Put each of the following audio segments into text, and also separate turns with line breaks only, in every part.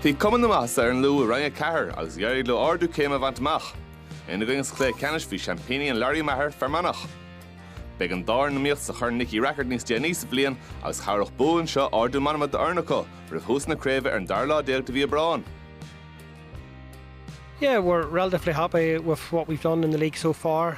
Bhí cuma na maitheasa ar an Lú i Roinn 4 agus d'éirigh leo ardú céime a bhaint amach. Ina gcoinne sa chluiche ceannais bhí seaimpíní an Lory Meagher, Fear Manach. Beidh an dá fhoireann in iomaíocht sa Chorn Nicky Rackard níos déanaí sa bhliain agus chabhródh bua anseo ardú meanma d'fhoireann acu roimh thús na craoibhe ar an dara lá déag de mhí
Aibreáin. Yeah, we're relatively happy with what we've done in the league so far.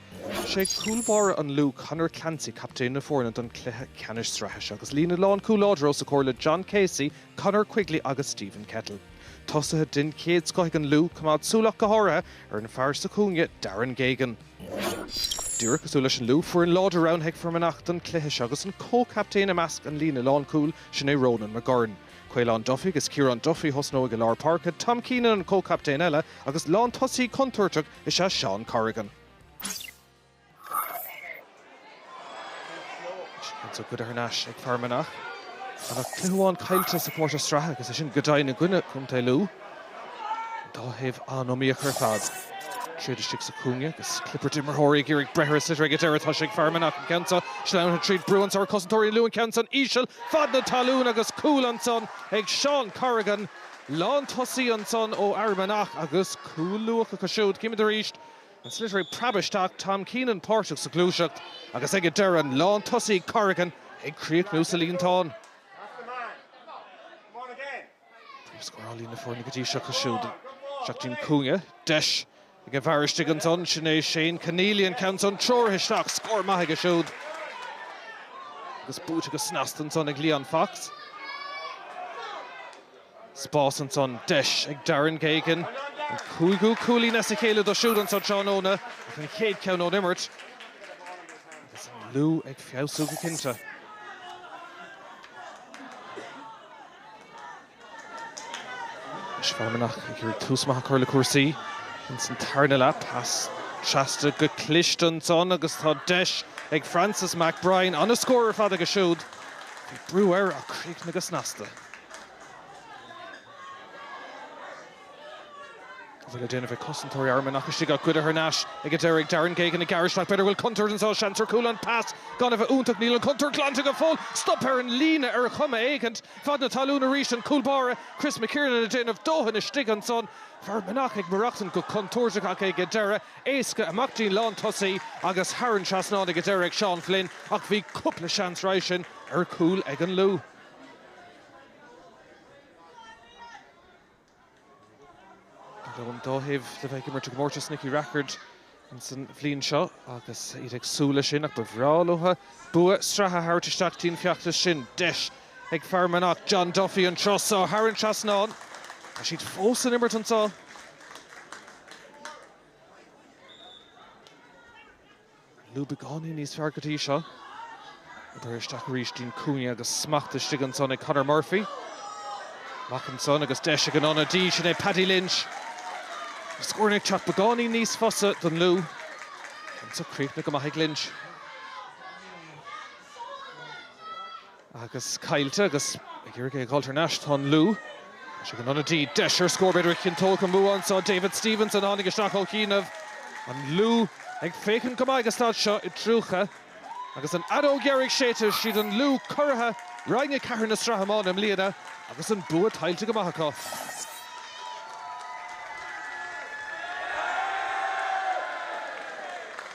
Is é cúl báire an Lú, Conor Clancy, captaen na foirne don chluiche ceannais sraithe seo agus líne lánchúil láidir os a chomhair le John Casey, Conor Quigley agus Stephen Kettle. Tosaithe den chéad scoth ag an Lú, coimeád súil ach go háirithe ar an bhfear sa chúinne, Darren Geoghegan. Díreach cosúil leis an Lú, foireann láidir roghnaithe ag Fear Manach don chluiche seo agus an comhchaptaen i measc an líne lánchúil, sin é Ronan McGurn. Caolán Duffy agus Ciarán Duffy a thosnóidh i lár páirce, Tom Keenan an comhchaptaen eile agus lántosaí contúirteach, is ea Seán Corrigan. Anso goidte thar n-ais ag Fear Manach. Gan ach cluiche amháin caillte sa chomórtas sraithe agus é sin go deimhin i gcoinne Chontae Lú. An dá thaobh an-iomaíoch ar fad. Tríd istigh sa chúinne agus clibirt d'imreoirí ag iarraidh breith ar an sliotar ag an deireadh tá sé ag Fear Manach. An ceann seo sleamhnaithe tríd brú anso ar chosantóirí an Lú, an ceann san íseal fad na talún agus cúl ansan ag Seán Corrigan. lántosaí ansan ó Fhear Manach agus cúl luath acu siúd. Címid arís an sliotar ag preabadh isteach, Tom Keenan páirteach sa ghluaiseacht agus ag an deireadh an lántosaí Corrigan ag críochnú sa líontán. Príomhscórálaí na foirne go dtí seo acu siúd, isteach dtí'n cúinne, deis. Ag an bhfear istigh ansan, sin é Shane Conneely, an ceann san treoraithe isteach, scór maith aige siúd agus buaite go snasta ansan ag Leon Fox. Spás ansan, deis ag Darren Geoghegan, an cúigiú cúilín as a chéile dó siúd anso tráthnóna ach an chéad ceann ón imirt agus an Lú ag feabhsú go cinnte. Anois Fear Manach ag iarraidh tús maith a chur le cúrsaí. Ins an tarna leath, pas trasna go cliste ansan agus tá deis ag Francis McBrien ana-scór ar fad aige siúd. Bhí brú air ach críochnaithe go snasta. An bhfuil le déanamh ag cosantóirí Fhear Manach istigh ach goidte thar n-ais ag an deireadh ag Darren Geoghegan ag gearradh isteach b'fhéidir go bhfuil contúirt anso seans ar chúl an pas gan a bheith iontach níl an contúirt glanta go fóill stop ar an líne ar chuma éigint fad na talún arís an cúl báire Chris McKiernan ag déanamh dóthain istigh ansan Fear Manach ag maireachtaint go contúirteach ach ag an deireadh éasca amach dtí'n lántosaí agus thar an trasnán ag an deireadh ag Seán Flynn ach bhí cúpla seans roimhe sin ar chúl ag an Lú. Beidh an dá thaobh le bheith ag imirt i gcomórtas Nicky Rackard ansan an bhliain seo agus iad ag súil leis sin ach ba bhreá leotha bua sraithe a thabhairt isteach dtí'n feachtas sin. Deis ag Fear Manach, John Duffy an turas so a tharraingt trasna ann. Tá siad fós san imirt anseo. Lú beagáinín níos fearr go dtí seo. Obair isteach arís dtí'n cúinne agus smacht istigh ansan ag Conor Murphy. Amach ansan agus deis ag an ionadaí, sin é Paddy Lynch. Tá scóranna ag teacht beagáinín níos fusa don Lú anseo. Críochnaithe go maith ag Lynch. agus caillte agus ag iarraidh é a dh'fháil thar n-ais. Tá an Lú. Tá sé ag an ionadaí. Deis ar scór b'fhéidir a chinnteodh an bua anseo. David Stephenson a tháinig isteach ó chianaibh. An Lú ag féachaint go maith ag an staid seo i dTriúcha agus an fheadóg dheiridh séidte. Is iad an Lú curaithe Roinn 4 na Sraithe Iomána i mbliana agus an bua tuillte go maith acu.